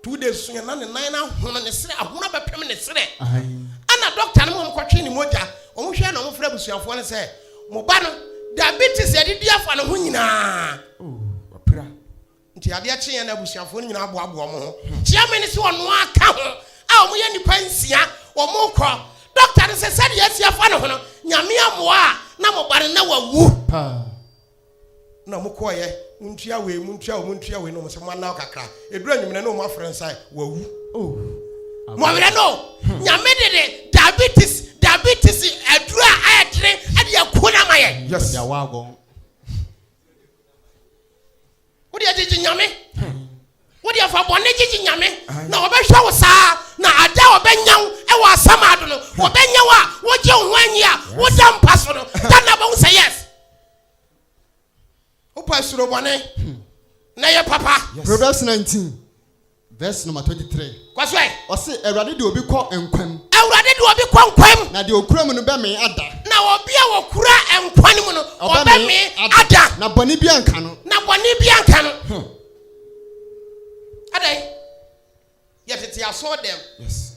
two days so yɛ na ne nan no ahono ne serɛ ahono bɛpem ne serɛ ɛna doctor no ma wɔn kɔtwe ne mogya wɔn hwɛ na wɔn frɛ abusuafoɔ no sɛ mo ba no diabetes yɛde di afa ne ho nyinaa. Oh, Nti adeɛ kye yɛn na abusuafoɔ no nyinaa boaboa wɔn ho. Kyeame no sɛ ɔno ara ka ho a wɔyɛ nnipa nsia, wɔkɔ. Dɔkta no sɛ sɛdeɛ asi afa ne ho no, Nyame ammoa a na mo ba no na wawu paa. Na wɔkɔeɛ, montua wei, montua wei, montua wei, na wɔn sɛ moanna kakra. Ɛduru anwummerɛ na wɔn afrɛ no sɛ wawu. Mowerɛ no o, Nyame de de diabetes, diabetes aduro a ɛyɛ dene de akuo no ama yɛn. Yes. wode agyegye nyame wode afa bɔne gyegye nyame na wɔbɛhwɛ wo saa na ada a wɔbɛnya wo ɛwɔ asɛm ado no wɔbɛnya wo a wogye wo ho anyi a woda mpa so no da na bɛhu sɛ yes wopɛ asuro bɔne na yɛ papa Proverbs 19 Verse number twenty three. Kɔ so ɛ. Ɔsi Awurade de obi kɔ nkwa mu. Awurade de obi kɔ nkwa mu. Na deɛ okura mu no bɛmee ada. Na obi a okura nkwa no mu no ɔbɛmee ada. Na bɔne bi anka no. Na bɔne bi anka no. Hmm. Adai yɛ tete asɔɔ dɛm. Yes.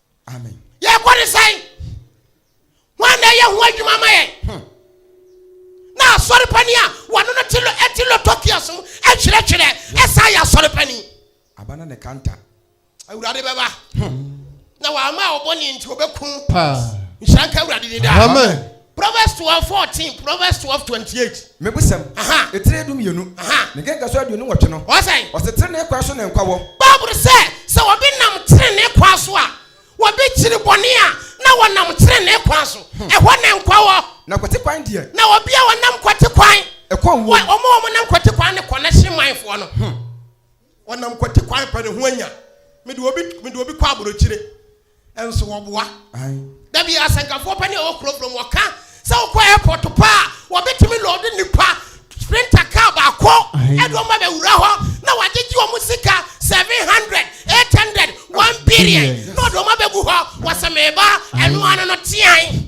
amen yɛkɔ ne sɛn wɔn na ɛyɛ ho adwuma ma yɛn hmm. na asɔrepani a wɔne no te lo ɛte lotɔkia so ɛtwerɛtwerɛ ɛsan yɛ asɔrepani aba na ne kanta awurade bɛba hmm. na wɔama ɔbɔ ne nti wɔbɛku nhyira nka awurade ne daa Proverbs twelve fourteen, Proverbs twelve twenty eight. Mebusɛm, ne tire dumienu, ne nkekasoɔ aduonu nwɔtwe no, ɔse, Tenenee kwan so na nkwa wɔ. Bible sɛ, sɛ wɔbi nam tenenee kwan so a, wɔbi kyiri bɔne a, na wɔnam tenenee kwan so, ɛhɔ na nkwa wɔ. Na kwate kwan deɛ. Na wɔbi a wɔnam kwate kwan. Ɛkɔ owuo mu. Wɔn a wɔnam kwate kwan no kɔ, na hye manfoɔ no. Ɔnam kwati kwan pɛ ne ho anya. Mede obi mede obi kɔ aburokyire. Ɛnso wɔboa. Da bi asɛnkafoɔ pɛ ne ɛwɔ kurofuro mu ɔka sɛ wokɔ airport pa a wɔbɛtumi lɔɔde nipa sprinter car baako ɛde wɔn abɛwura hɔ na wɔagyegye wɔn sika 700 800 1 billion na ɔde wɔn abɛgu hɔ wɔsɛ meba ɛno ano no tean.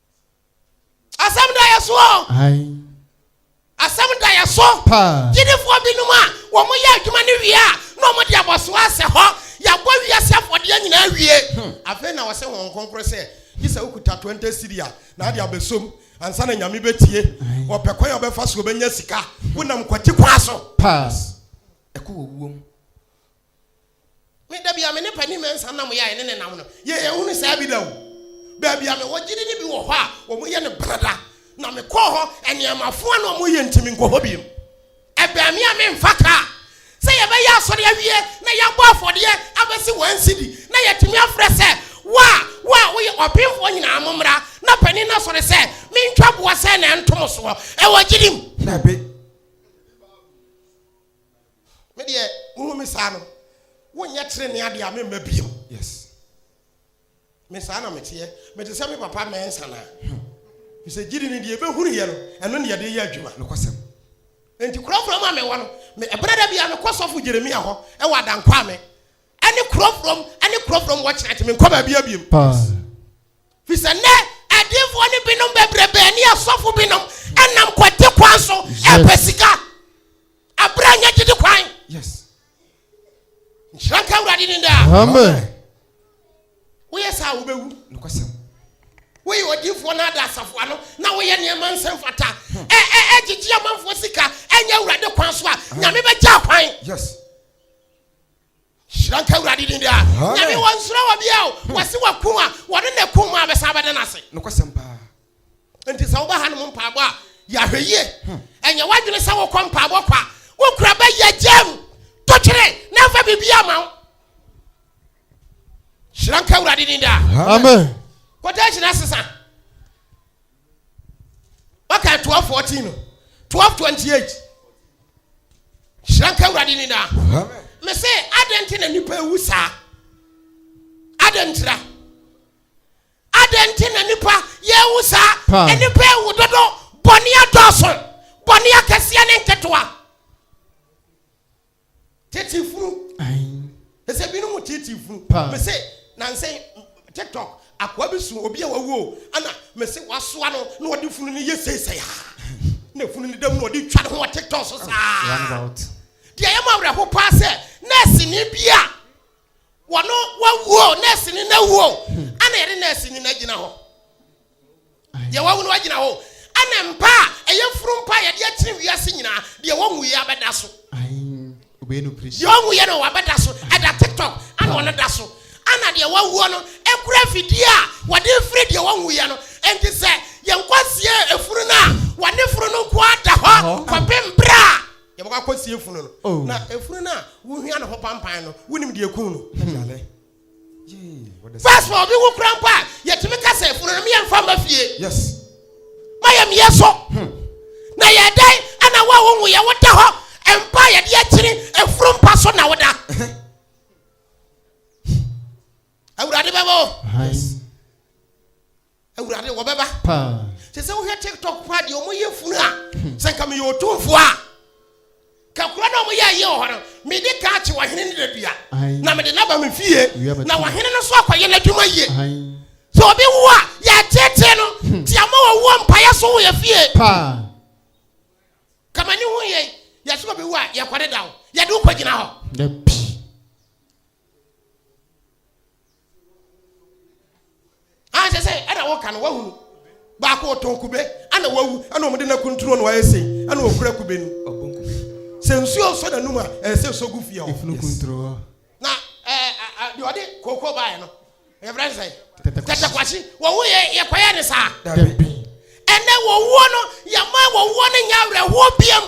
asɛm da yɛ so asɛm da yɛ so gyidifoɔ binom a wɔn yɛ adwuma no wie a na wɔn de abɔsoɔ asɛ hɔ yɛabɔ wiase afɔdeɛ nyinaa wie hmm. afei na wɔsɛ wɔn nkonkoro sɛ gye sɛ wokuta 20 siri a na ade abɛsom ansa na nyame bɛtie wɔpɛ kwan a wɔbɛfa so wɔbɛnya sika wonam kwati kwa so pass ɛkɔ wɔwuom Me, da bi a me ne Panin Mensah nam yɛ a yɛne no nam no, yɛn anhunu saa bi da o. Baabi a mewɔ gyidi no bi wɔ hɔ a, wɔyɛ no Benada, na mekɔɔ hɔ, nneɛma foa na wɔyɛ nti menkɔ hɔ bio. Ɛbɛn me a memfa kaa. Sɛ yɛbɛyɛ asɔre awie na yɛabɔ afɔdeɛ abɛsi wɔn sidi na yɛatumi afrɛ sɛ, Wo a, wo a woyɛ ɔbenfoɔ nyinaa mommra na panin no asɔre sɛ mentwa boɔ sɛn na ɛnto mo soɔ. Ɛwɔ gyidi mu. Dabi. Me deɛ wohu me saa no wonyɛ trenee adeɛ a memma bio. Yes. Me saa na meteɛ. Mete sɛ me papa mɛnsa na. Hmm. Fi sɛ gyidi no deɛ ɛbɛhunu yɛ no ɛno ne yɛde yɛ adwuma. Nokwasɛm. Nti kurɔfoɔ mu a mewɔ no me ɛberɛ da bia mekɔ sɔfo Jeremia hɔ ɛwɔ adankwame ɛne kurɔfoɔ mu ɛne kurɔfoɔ mu wɔ kyerɛ ate menkɔ baabi abiem. Paa. Fi sɛ nɛ adiifoɔ no binom bɛbrɛ bɛɛ ne asɔfo binom ɛnam kwate kwan so ɛpɛ sika. Abra nyɛ gyidi kwan. Yes. Nhyira nka Awurade ne daa. Amen. Woyɛ saa wobɛwu. Nokwasɛm. Woyɛ odiifoɔ no ada asafo ano na woyɛ nneɛma nsɛm fata. Hmm. Ɛ ɛ ɛgyegye amanfoɔ sika ɛnyɛ Awurade kwan so a nyame bɛgya kwan. Yes. Hyira nka Awurade din daa. Nyame wɔ nsuro wɔ bia o. Wɔse waku a, wɔne na kum a bɛsan bɛda no ase. Nokwasɛm paa. Nti sɛ woba hanom mpaabɔ a, yɛ ahwɛ yie. Ɛnyɛ w'adwene sɛ wokɔ mpaabɔ kwa. Wokura bɛ yɛ gyam, to twene na ɛmfa biribiara ma wo. Hyira nka Awurade din daa. Amen. Quotation asesa. waka 1214 no 1228 hyira nka awurade ni daa me se adɛn nti na nipa ewu saa adɛn ntira adɛn nti na nipa yɛwu saa nipa ewu dodo bɔne adɔɔso bɔne akɛseɛ ne nketewa Titi funu. Ɛsɛ binom mu titi funu. Mese nanse TikTok akoa bi so obi a wawu o ana mese wasoa no na ɔde funu no yɛ seisɛe ha. Na funu no dam na ɔde twa ne ho wɔ TikTok so saa. Deɛ ɛyɛ ma awerɛho paa sɛ nɛɛseni bi a wɔno wawu o nɛɛseni no awu o ana yɛde nɛɛseni no agyina hɔ. deɛ wawu no agyina hɔ ɛna mpa a ɛyɛ funu mpa a yɛde akyiri wiase nyinaa deɛ wɔnwu yɛ abɛda so deɛ ɔnwu yɛ no wabɛda so ɛda tiktok ana ɔno da so ana deɛ wawuo no ekura fidie a wɔde firi deɛ wɔnwu yɛ no nti sɛ yɛn kɔsie efunu no a wɔne funu no nko ada hɔ kɔpem bere a yɛbɛkɔ akɔsie funu no oh. na efunu no a wohia no ho pampan no wonim deɛ kun no hmm. First of all, obi wu kura mpo a yɛtumi ka sɛ funu no meyɛ mfa mma fie. Yes. Mayɛ meyɛ so. Hmm. Na yɛ dɛn ɛna wo a wohu yɛ woda hɔ mpa yɛde akyiri efuru mpa so na woda. Awurade bɛbɔ. Yes. Awurade wɔbɛba. Paa. Sɛ sɛ wohwɛ TikTok paa deɛ wɔn yɛ funu a, hmm. sɛ nka meyɛ otumfoɔ a. Kakura na wɔn yɛ ayɛ wɔ hɔ no, mede kaa kye wɔhene ne dadua. Na mede naba me fie. Na wɔhene no so akɔyɛ n'adwuma yie. Sɛ obi wu a, yɛatetee no. Hmm. Ti ama wɔn wɔ mpaeɛ so wɔ yɛ fie. Paa. Kama ne ho yɛ yɛsoma bɛwu a yɛkɔde da hɔ. Yɛde wo kɔgyina hɔ. anhyɛ sɛ ɛna woka no wahunu baako ɔtɔn kube ana wawu ɛna wɔde no akunturo no ayɛ sei ɛna ɔkura kube no sɛ nsuo nsɔ n'anum a ɛsɛ sɔ gu fie hɔ na deɛ ɔde kooko baeɛ no yɛfrɛ no sɛ tɛtɛkwahye wɔwo yɛ yɛkɔyɛ ne saa ɛnɛ wɔwoɔ no yɛma wɔwoɔ no nyɛ awerɛhoɔ biam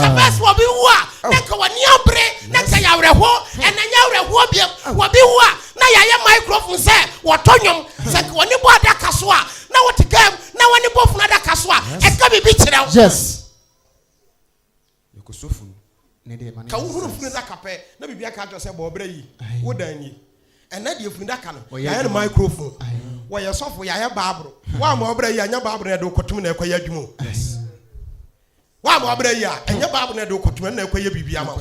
ɛbɛ sɛ wɔbi wu a na nka wɔne abere na nka yɛ awerɛhoɔ ɛnɛ nyɛ awerɛhoɔ biam wɔbi wu a na yɛayɛ microphone sɛ wɔtɔ nnwom sɛ nka wɔne bɔ adaka so a na wɔte gam na wɔne bɔ funu adaka so a ɛka biribi kyerɛ wo Yɛkɔ so fun ne deɛ ma no yɛ Ka wo hunu funu daka pɛ na biribi aka akyerɛ sɛ bɔɔ brɛ yi wo dan nie ɛnɛ deɛ funu daka no yɛayɛ no microphone wɔyɛ sɔfo yɛayɛ baaboro wo a mɔɔ brɛ yi a ɛnyɛ baaboro na ɛde wo kɔtom na ɛkɔ yɛ adwuma o wo a mɔɔ brɛ yi a ɛnyɛ baaboro na ɛde wo kɔtom ɛno na ɛkɔ yɛ biribi ama wo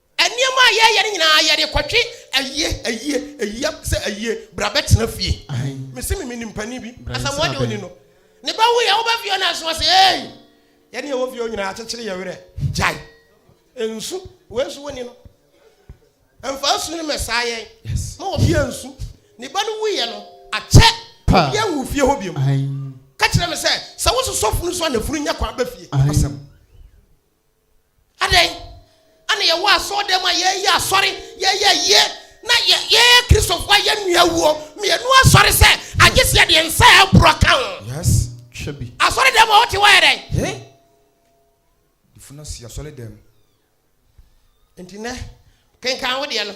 Nneɛma a yɛyɛ no nyinaa yɛde kɔtwe ayie ayie ayie sɛ ayie bra bɛtena fie mese me menim panin bi asamoa deɛ ɔni no ne ba wuyɛ wobɛ fie no aso ase ei yɛne ɛwɔ fie nyinaa akyekyere yɛ werɛ gyae nsu wei nso woni no ɛmfa nsu no mɛsaa yɛn ma wɔ fie nsu ne ba no wuyɛ no akyɛ obiɛ nwu fie hɔ biom ka kyerɛ me sɛ sɛ wo sosɔfo no so a nafunu nya kwan bɛ fie asɛm Adɛn? Ana yɛwɔ asɔɔdan mu a yɛɛyɛ asɔre, yɛɛyɛ ayie, na yɛ yɛɛ Kristofo a yɛn nua wuo, mmienu asɔre sɛ agye sɛ yɛde nsa a ɛborɔ ka ho. Yes, hwɛ bi. Asɔredan mu a wote hɔ ayɛ dɛn? He? Defo no si asɔredan mu. Nti nɛ, kenkan wo deɛ no.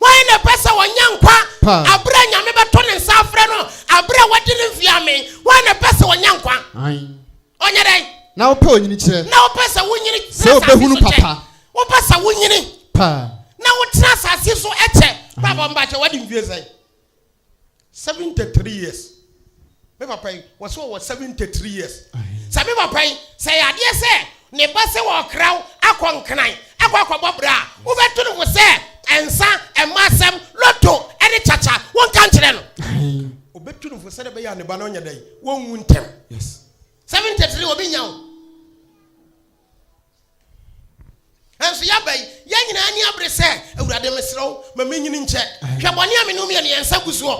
Hwan na ɛpɛ sɛ ɔnya nkwa bere a Nyame bɛto ne nsa afrɛ no, bere a wadi ne mfe amen? Hwan na ɛpɛ sɛ ɔnya nkwa? Ɔnyɛ dɛn? Na wopɛ onyini kyerɛ. Na wopɛ sɛ wonyini kyerɛ asase so kyɛ. Wopɛ sɛ wonyini na wotena asase so kyɛ. Brabɔ mba kyɛ, wadi mfe sɛn? Seventy three years me papa yi wɔ sɛ ɔwɔ seventy three years sɛ me papa yi sɛ yadeɛ sɛ ne ba sɛ ɔkra wo akɔ nkran akɔ akɔbɔ bra a wobɛto ne ho sɛ nsa ɛma asɛm loto ɛne kyakya wonka nkyerɛ no obɛtu ne ho sɛdeɛ bɛyɛ a ne ba no nyɛ dɛn wɔnwu ntɛm seventy three obi nya wo. Nanso yɛaba yi, yɛn nyinaa ani abere sɛ, Awurade, mesrɛ wo, ma menyini nkyɛ. Hwɛ bɔne a me ne wo mmienu yɛn nsa gu soɔ.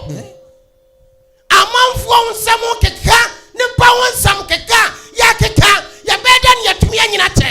Amanfoɔ nsɛm keka, nnipa ho nsɛm keka, yɛkeka, yɛbɛyɛ dɛ ne yɛtumi anyini akyɛ.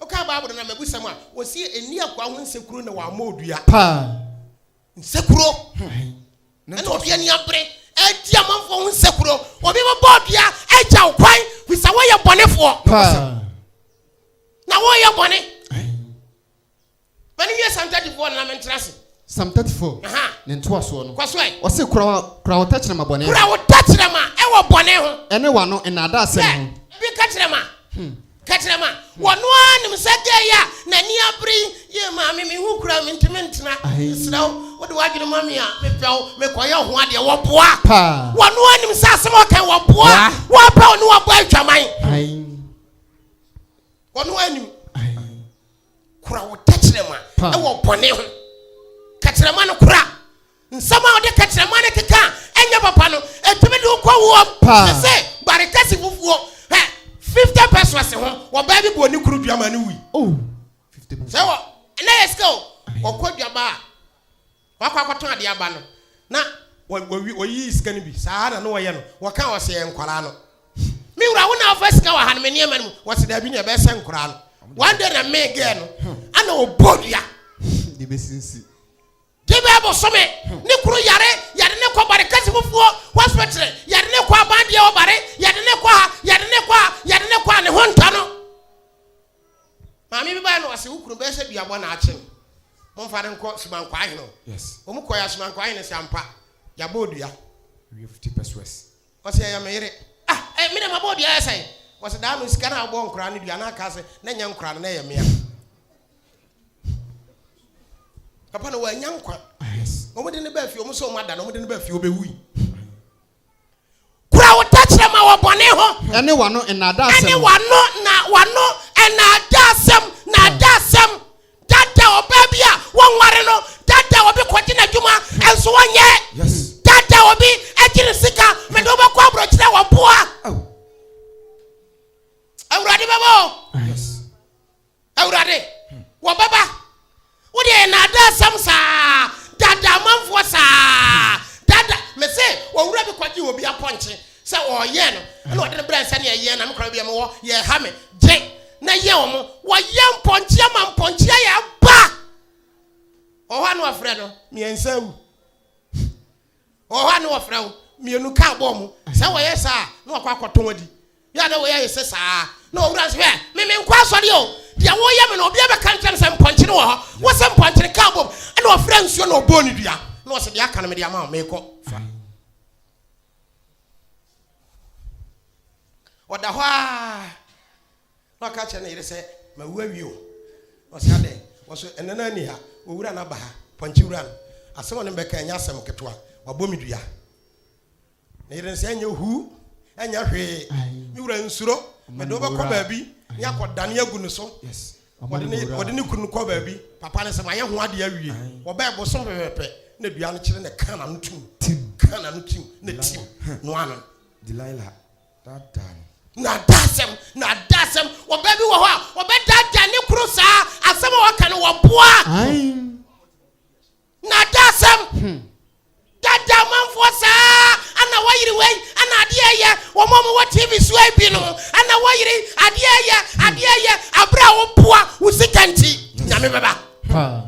Wokaa Bible no na mabusɛm a, wɔsi ɛnni akoa ho nsekuro na wɔammɔ odua. Paa. Nsekuro. Ɛna obi ani abere ɛdi amanfoɔ ho nsekuro. Obi bɛbɔ odua agya wo kwan fi sɛ woyɛ bɔnefoɔ. Paa. Na woyɛ bɔne. Ma no nyɛ Psalm 34 no na mentra ase. Psalm 34, Aha. ne ntoasoɔ no. Kɔ so ɛ. Ɔse, Kura wa, kura wo tɛkyerɛma bɔne ho. Kura wo tɛkyerɛma ɛwɔ bɔne ho. Ɛne w'ano nnaadaasɛm Hwɛ, ho. bi ka kyerɛ ma, ka kyerɛ ma. Wɔno ara nim sɛ gay a n'ani abere yi yɛ maame me ho kura mentumi ntena. Ahei. Mesrɛ wo, wode w'adwene ma me a, mepɛ wo, mekɔyɛ ho adeɛ. Wɔboa. Paa. Wɔno ara nim sɛ asɛm a ɔka yi, wɔboa. Boa. Wɔba wo ne wɔbɔ adwaman. Ahei, Wɔno ara nim. ahei. kura wo tɛkyerɛma ɛwɔ bɔne ho kɛkyerɛma no kura nsɛm a wode kɛkyerɛma no keka ɛnyɛ papa no ɛtumi de wokɔ woɔ sɛ barekɛse fufuo hɛ 50 pesos ho wɔbaa bi bɔɔ ne kuru duama no wui oh, sɛ wɔ ɛnɛ yɛ sika o wɔkɔ duaba a Wakɔ akɔtɔn adeɛ aba no na wayi sika no bi saa na na wɔyɛ no wɔka wɔse ɛyɛ nkwadaa no me wura wo na afa sika waha no me nneɛma no mu wɔse daabi ne ɛbɛsɛ nkwadaa no one day na me gɛɛ no ana ɔbɔ dua de bɛsinsi de bɛ bosome ne kuro yare yɛde ne kɔ bare kasi fufuo hospital yɛde ne kɔ abandeɛ wɔ bare yɛde ne kɔ ha yɛde ne kɔ ha yɛde ne kɔ ha ne ho ntɔ no Maame bi bae na ɔse wo kunu bɛyɛ sɛ duabɔ na akye no momfa no nkɔ Suban Kwaahene hɔ. Wɔn kɔe a Suban Kwaahene se ampa yɛabɔ dua. Ɔse ɛyɛ me yere. Ah eh me deɛ mabɔ dua ayɛ sɛn? Ɔse daa no sika no a wobɔɔ nkoraa no dua no aka se na nyɛ nkoraa no na ɛyɛ mea. Papa no wannya nkwa. Wɔn de no baa fie wɔn se wɔn ada no wɔn de no baa fie ɔbɛwui. Kura wo tɛkyerɛma wɔ bɔne ho. Ɛne w'ano nnaadaasɛm. Ɛne w'ano na w'ano nnaadaasɛm nnaadaasɛm. Dada ɔbaa bi a wɔnware no, dada obi kɔgye n'adwuma nso wɔnyɛ, dada obi agye ne sika, mede wobɛkɔ aborɔkyerɛ wɔ mpoa. Awurade bɛbɔ. Awurade, wɔn bɛba. Wo deɛ yɛ naadaa sɛm saa, daadaa amanfoɔ saa, daadaa me se owura bi kɔgye wɔ bi apɔnkye sɛ ɔreyɛn no ɛna ɔde no brɛ sɛ neɛ yɛn na me kora bi ɛmɛ wɔ yɛ ha me gye na yɛ wɔn wɔyɛ mpɔnkye ama mpɔnkye ayɛ aba ɔhɔ ano afrɛ no mmiɛnsa awu. Wɔ hɔ a na wɔfrɛ wo mmienu ka abɔɔ mu. Sɛ wɔyɛ saa a, na wɔakɔ akɔtɔn adi. Yɛ a na wei ayɛ sɛ saa ara. Na owura no sɛ, Hwɛ, me menkɔ asɔre o. Deɛ woreyɛ me no, obiara bɛka nkyerɛ me sɛ mpɔnkye no wɔ hɔ. Wo se mpɔnkye no ka abom. Ɛnna ɔfrɛɛ nsuo na ɔbɔɔ no dua. Na ɔse, Deɛ aka no mede ama wo, merekɔ. Fa. Ɔda hɔ ara. Na ɔka kyerɛ ne yere sɛ, Mawu awie o. Na ɔse, Adɛn? Ɔse, Ɛnnɛ no ara nni ha, owura no aba ha, pɔnkye wura no. Asɛm a ɔne me bɛka ɛnyɛ asɛm ketewa, wabɔ me dua. Ne yere no se, Ɛnyɛ huu, ɛnyɛ hwee. Me wura nsuro, mede wo bɛkɔ baabi na yɛakɔdane agu no so. Wɔde ne kunu no kɔɔ baabi. Papa no se, Mayɛ ho adeɛ awie. Wɔbɛɛ bosome pɛpɛpɛ na dua no kyere na ɛkaa n'ano tim, kaa n'ano tim na ɛtim no ano. Daadaa no. Nnaadaasɛm, nnaadaasɛm. Ɔbaa bi wɔ hɔ a, ɔbɛdaadaa ne kunu saa, asɛm a ɔka no wɔboa. Aim. Nnaadaasɛm. Hmm. Daadaa amanfoɔ saa, ana wɔyere wei, ana adeɛ yɛ, wɔn a wɔwɔ TV so yi bi no, ana wɔyere, adeɛ yɛ, adeɛ yɛ, abere a wɔboa, wo sika nti, nyame bɛba. Paa.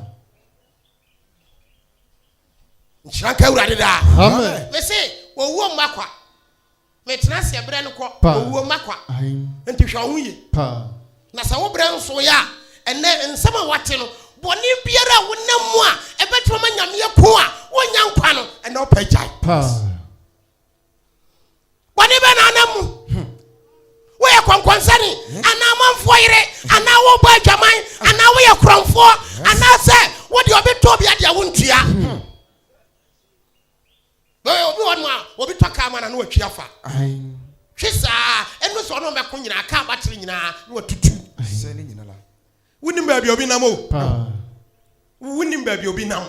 nhyira nka awurade daa Amen. mese owuo mma kwa metena seɛ berɛ no kɔ Pa. owuo mma kwa Ahem. nti hwɛ wo ho yie Paa. na sɛ wo berɛ nso yɛ a ɛnɛ nsɛm a wate no bɔne biara a wonam mu a ɛbɛtumi ma nyameɛ ko a wonya nkwa no ɛnɛ wopɛ gyae Paa. bɔne bɛ na anam mu hmm. woyɛ kɔnkɔnsɛne hmm. anaa amanfoɔ yere hmm. anaa wobɔ adwaman anaa woyɛ korɔmfoɔ anaasɛ wode ɔbɛtɔ bi adeɛ wontua obi wɔ no a obi tɔ kaa ma na na watwi afa hwe saa ɛno sɛ ɔno ɔmɛko nyinaa kaa batere nyinaa na watutu wonim baabi obi nam o wonim baabi obi nam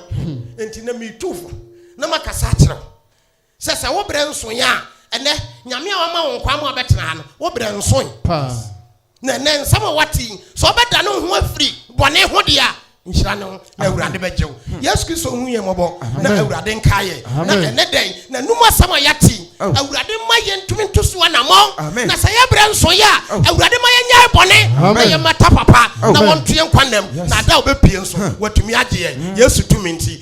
enti na metu fo na makasa akyerɛ wo Sɛ, sɛ wo berɛ nsoeɛ a, ɛnnɛ, Nyame a Wama wo nkwa ama wobɛtena ha no, wo berɛ nsoe? Paa. Na ɛnnɛ, nsɛm a woate yi, sɛ wobɛdane wo ho afiri bɔne ho deɛ a, nhyira ne ho, na Awurade bɛgye wo. Yesu Kristo nhu yɛn mmɔbɔ, na Awurade nkae yɛn. Na ɛnnɛ da yi, N'anom asɛm a yɛate yi, Awurade mma yɛntumi nto so anammɔn. Na sɛ yɛn berɛ nsoeɛ a, Awurade ma yɛnyae bɔne, na yɛmmata papa, na wɔnto yɛn nkwa nna mu, na da a wobɛpue nso, Watumi agye yɛn, Yesu tumi nti.